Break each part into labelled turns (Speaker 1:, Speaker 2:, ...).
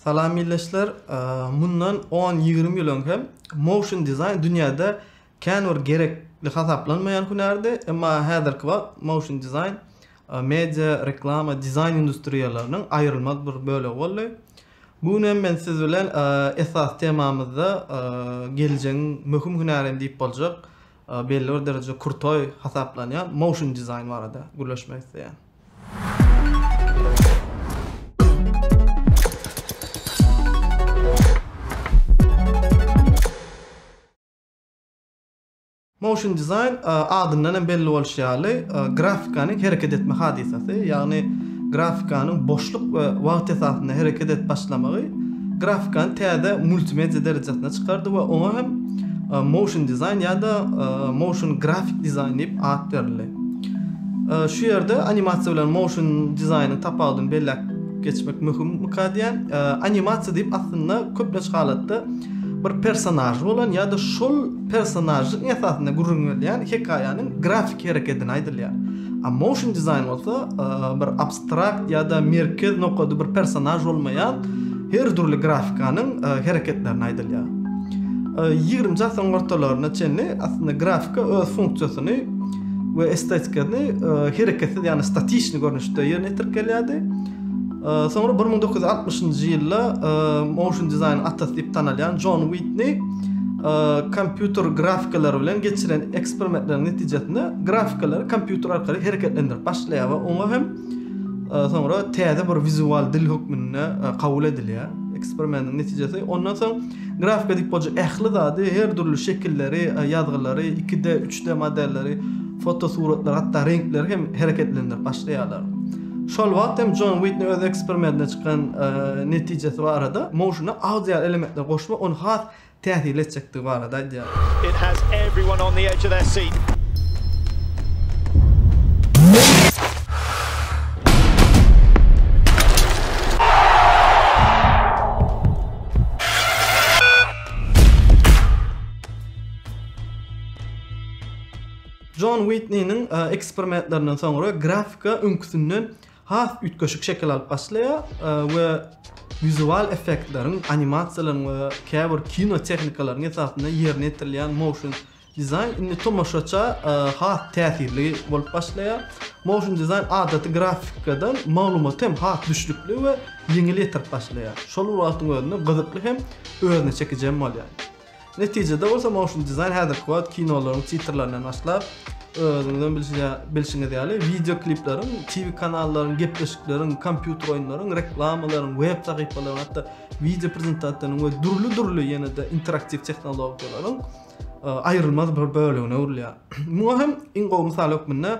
Speaker 1: Salam ildeşler. Mundan on ýigrimi ýyl öň hem motion dizaýn dünýäde kän bir gerekli hasaplanmaýan hünärdi, emma häzirki wagt motion dizaýn media, reklama, dizaýn industriýalarynyň aýrylmaz bir bölegi boldy. Bu gün hem men siz bilen esasy temamyzda geljegiň möhüm hünäri hem diýip boljak belli bir derejede krutoi hasaplanýan motion dizaýn barada gürleşmek isleýän. Motion dizaýn adyndan hem belli bolşy ýaly grafikanyň hereket etme hadysasy, ýagny Grafikanyň boşluk we wagt esasynda hereket edip başlamagy grafikany täze multimedia derejesine çykardy we oňa hem motion design ýa-da motion grafik dizaýn diýip at berildi. Şu ýerde animasiýa bilen motion dizaýnyň tapawudyny belläp geçmek möhüm mykadýän. Animasiýa diýip aslynda köplenç halatda bir personažy bolan ýa-da şol personažyň esasynda gürrüň berilýän hekaýanyň grafiki herekedini aýdylýar. A motion design bolsa bir abstrakt ýa-da merkez nokady bir personaj bolmaýan her dürli grafikanyň hereketlerini aýdylýar. 20-nji asyryň ortalaryna çenli aslynda grafika öz funksiýasyny we estetikany hereketsiz, ýagny statişni görnüşde ýerine ýetirip gelýärdi. Soňra bir müň dokuz ýüz altmyşynjy ýylda motion dizaýnyň atasy diýip tanalýan Jon Witni kompýuter grafikalary bilen geçiren eksperimentleriň netijesinde grafikalary kompýuter arkaly hereketlendirip başlaýar we oňa hem soňra täze bir wizual dil hökmünde kabul edilýär. Eksperimentiň netijesi ondan soň grafika diýip bolja ähli zady, her dürli şekilleri, ýazgylary, 2D, 3D modelleri, fotosuratlary, hatda reňkleri hem hereketlendirip başlaýarlar. Şol wagt hem Jon Witni öz eksperimedinde çykan netijesi barada, motiona audio elementleri goşmak ony has täsirli etjekdigi barada
Speaker 2: aýdýar.
Speaker 1: Jon Witniniň eksperimentlerinden soňra grafika öňküsinden has üýtgeşik şekil alyp başlaýar we wizual effektleriň, animasiýalaryň we käbir kino tehnikalaryň esasynda ýerine ýetirilýän motion dizaýn indi tomaşaça has täsirli bolup başlaýar. Motion dizaýn adaty grafikadan maglumaty hem has düşnükli we ýeňil ýetirip başlaýar. Şol bir wagtyň özünde gyzykly hem özüne çekiji hem bolýar. Netijede bolsa Motion Design häzirki wagt kinolaryň titrlerinden başlap, özüňizem bilşiňiz ýaly, wideo klipleriň, TV kanallaryň, gepleşikleriň, kompýuter oýunlaryň, reklamalaryň, web sahypalaryň, hatda wideo prezentasiýalaryň we dürli-dürli ýene-de interaktiw tehnologiýalaryň aýrylmaz bir bölegine öwrülýär. Muňa hem iň gowy mysal hökmünde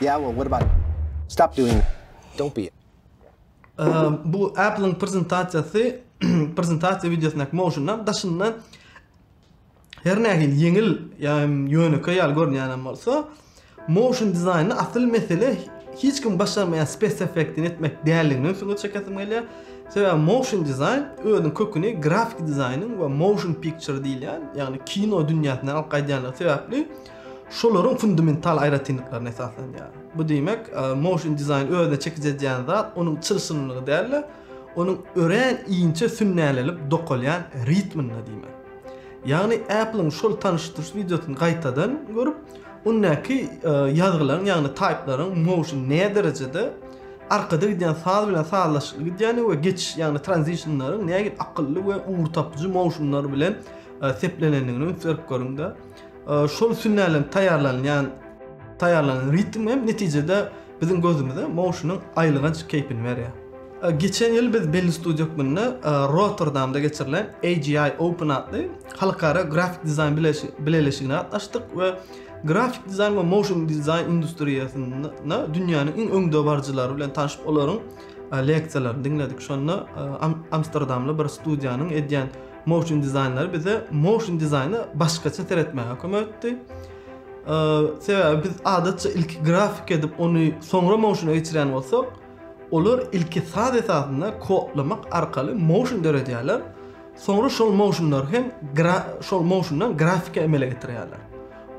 Speaker 3: Ýaowo, gurbanym. Stop doing that. Don't be a.
Speaker 1: Bu Apple-yň prezentasiýasy, prezentasiýa wideosynyň motiondan daşynda her nähili ýeňil ýa hem ýönekeý ýaly görünýänem bolsa, motion dizaýnda asyl mesele hiç kim başarmaýan spes effektini etmek däldigini öň süňňe çekesim gelýär. Sebäbi motion dizaýn özüniň köküni grafiki dizaýnyň we motion picture diýilýän, ýagny kino dünýäsinden alyp gaýdýandygy sebäpli, şolaryň fundamental aýratynlyklaryna esaslanýar. Bu diýmek, motion dizaýn özüne çekiji edýän zat onuň çylşyrymlygy däl-de, onuň örän inçe sünnälenip dokalýan ritminde diýmek. Ýagny Apple-iň şol tanyşdyryş wideosyny gaýtadan görüp, ondäki ýazgylaryň, ýagny taýplaryň motion nä derejede, arkada gidýän saz bilen sazlaşykly gidýändigi we geçiş, ýagny transition-laryň nähili akylly we ugur tapyjy motion-lar bilen seplenendigini üns berip görüň-de. Şol sünnälenip taýýarlanylýan taýýarlanan ritm hem netijede biziň gözümize Moşunyň aýylganç keýpini berýär. Geçen ýyl biz belli studiýa hökmünde Rotterdamda geçirilen AGI Open atly halkara grafik dizaýn bileleşigine gatnaşdyk we grafik dizaýn we motion dizaýn industriýasynda dünýäniň iň öňdebaryjylary bilen tanyşyp, olaryň leksiýalaryny diňledik. Şonda amsterdamly bir studiýanyň edýän Motion dizaýnlar bize motion dizaýna başgaça seretmäge kömek etdi. Sebäbi biz adatça ilki grafik edip, ony soňra motiona geçirýän bolsak, olar ilki saz esasynda kodlamak arkaly motion döredýärler. Soňra şol motionlar hem şol motiondan grafika emele getirýärler.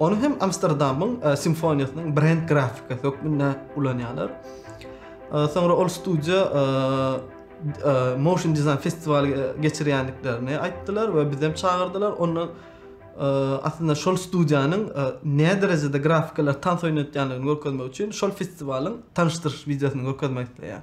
Speaker 1: Ony hem Amsterdamyň e, simfoniýasynyň brend grafikasy hökmünde ulanýarlar. E, soňra ol studiýa e, Motion Design festiwaly geçirýändiklerini aýtdylar we bizem çagyrdylar. Onda aslynda şol studiýanyň näme derejede grafikalar tans oýnatýandygyny görkezmek üçin şol festiwalyň tanyşdyryş wideosyny görkezmek isleýär.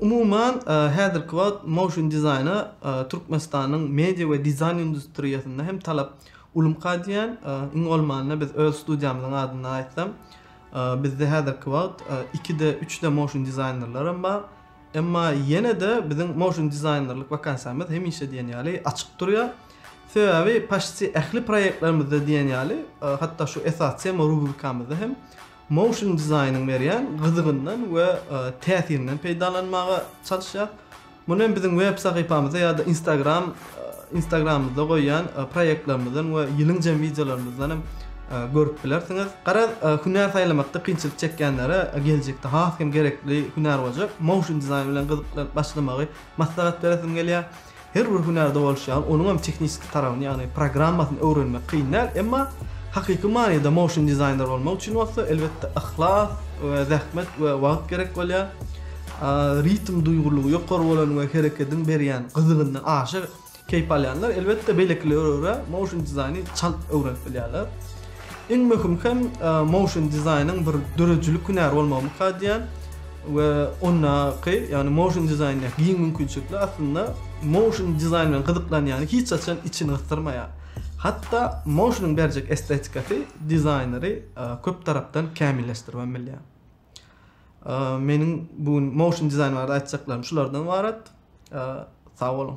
Speaker 1: Umuman, häzirki wagt motion dizaýna Türkmenistanyň media we dizaýn industriýasynda hem talap ulymka diýýän. Iň bolmanda biz öz studiýamyzyň adyndan aýtsam, bizde häzirki wagt iki-de, üç-de motion dizaýnerlerem bar. Emma ýene-de biziň motion dizaýnerlik wakansiýamyz hemişe diýen ýaly açyk durýar. Sebäbi paşti ähli proýektlerimizde diýen ýaly, hatda şu esasy tema rubrikamyzda hem motion dizaýnyň berýän gyzygyndan we täsirinden peýdalanmaga çalyşýar. Muny hem biziň web sahypamyzda ýa-da Instagram Instagramymyzda goýýan proýektlerimizden we ýylyň jemi wideolarymyzdan hem görüp bilersiňiz. Garaz, hünär saýlamakda kynçylyk çekýänlere geljekde has hem gerekli hünär boljak motion dizaýn bilen gyzyklanyp başlamagy maslahat beresim gelýär. Her bir hünärde bolşy ýaly, onuň hem tehniki tarabyny, ýagny programmasyny öwrenmek kyn däl, emma hakyky manyda motion dizaýner bolmak üçin bolsa, elbetde, yhlas we zähmet we wagt gerek bolýar. Ritm duýgurlygy ýokary bolan we herekediň berýän gyzygyndan aşa keýp alýanlar, elbetde, beýlekilere görä motion dizaýny çalt öwrenip bilýärler. Iň möhüm hem motion dizaýnyň bir döredijilik hünäri bolmagy mukad edýär we ondaky, ýagny motion dizaýnda giň mümkinçilikler aslynda motion dizaýn bilen gyzyklanýany hiç haçan içini gysdyrmaýar. Hatda motionyň berjek estetikasy dizaýneri köp tarapdan kämilleşdirip hem bilýär. Meniň bu gün motion dizaýn barada aýtjaklarym şulardan ibarat. Sag boluň.